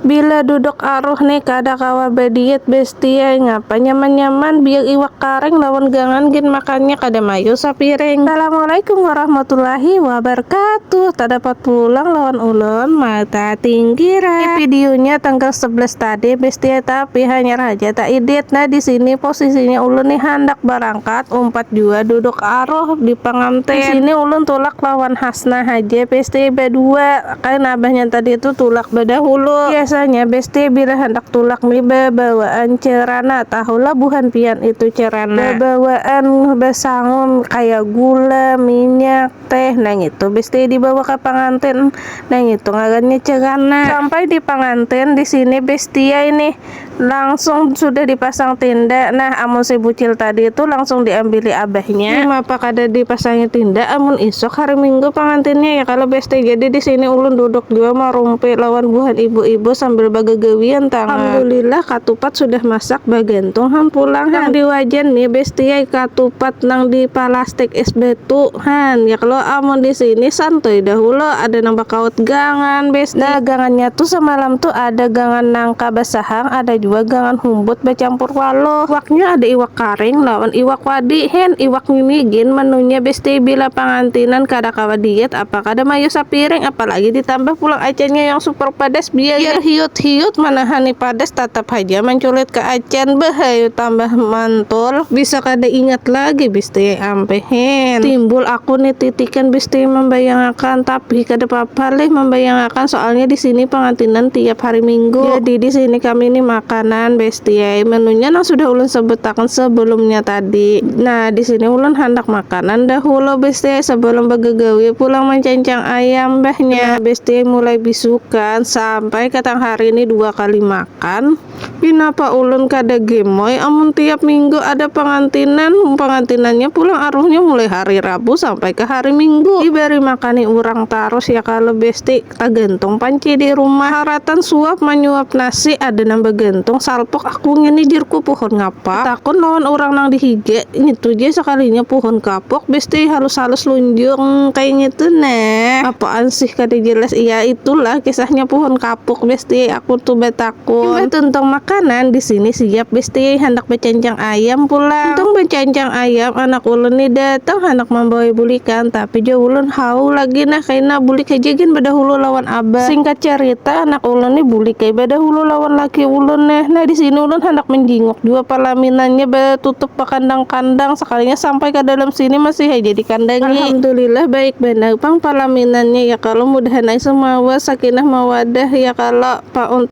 Bila duduk aruh ni kada kawa badiet bestie ai ngapa nyaman nyaman biar iwak karing lawan gangan gin makannya kada mayu sapiring. Assalamualaikum warahmatullahi wabarkatuh tadapat pulang lawan ulun mata tinggi ra. Ini videonya tanggal sebelas tadi bestie tapi hanyar haja ta idit nah disini posisinya ulun ni handak barangkat umpat jua duduk aruh di pangantin disini ulun tulak lawan hasna haja bestie badua. Kain abahnya tadi tu tulak badahulu. Biasanya bestie bila handak tulak ni babawaan cerana, tahulah buhan pian itu cerana. Babawaan basangum kaya gula, minyak, teh nangitu bestie dibawa ka pangantin, nangitu ngarannya cerana. Sampai di pangantin, di sini bestie ini. Langsung sudah dipasang tinda. Nah, amun si bucil tadi tu langsung diambili abahnya. Mapa kada dipasangi tinda amun isuk hari minggu pangantinnya ya kalo Besti. Jadi di sini ulun duduk jua marumpi lawan buhan ibu-ibu sambil bagagawian tangah. Alhamdulillah katupat sudah masak bagantung ham pulang han. Nang di wajan ni Besti ai katupat nang di palastik is batu han ya kalo. Amun di sini santuy dahulu ada nang bakaut gangan Besti. Nah, gangannya tu samalam tu ada gangan nangka. Basahang ada jua gangan humbut bacampur walo. Iwaknya ada iwak karing lawan iwak wadi hin. Iwak ngini gin menunya besti bila pangantinan kada kawa diet apa kada mayu sapiring apalagi ditambah pulang acannya yang super padas biar hiut-hiut manahani padas tatap haja manculit ka acan. Beuh ayu tambah mantul. Bisa kada ingat lagi bsti. Tampihin. Timbul aku nih titikan bisti mambayangakan tapi kada papa lih mambayangakan soalnya di sini pangantinan tiap hari minggu. Jadi di sini kami nih makanan besti ai menunya nang sudah ulun sebutakan sebelumnya tadi. Nah di sini ulun handak makanan dahulu besti ai sebelum bagagawi pulang mancancang ayam mbahnya. Nah besti ai mulai bisukan sampai ka tang hari nih dua kali makan. Pinapa ulun kada gemoy amun tiap minggu ada pangantinan, mun pangantinannya pulang aruhnya mulai hari rabu sampai ka hari minggu. Dibari makani urang tarus ya kalo besti, tagantung panci di rumah. Haratan suap manyuap nasi ada nang bagantung salpok aku ngini jarku puhun ngapak. Tatakun lawan urang nang di higa, ngitu ja sakalinya puhun kapuk besti halus-halus lunjung kaya ngitu nah. Apaan sih kada jelas, iya itulah kisahnya puhun kapuk besti aku tu batakun. Imbah tuntung makanan, di sini siap bestiai handak bacancang ayam pulang. Tuntung bacancang ayam, anak ulun ni datang handak mambawai bulikan, tapi jua ulun haw lagi nah kaina bulik haja gin badahulu lawan abah. Singkat carita, anak ulun ni bulik ai badahulu lawan laki ulun nah. Nah, di sini ulun handak manjinguk jua palaminannya batutup bakandang-kandang, sakalinya sampai ka dalam sini masih haja dikandangi. Alhamdulillah baik banar pang palaminannya ya kalo, mudahan ai sumawar sakinah mawadah ya kalo. Pa.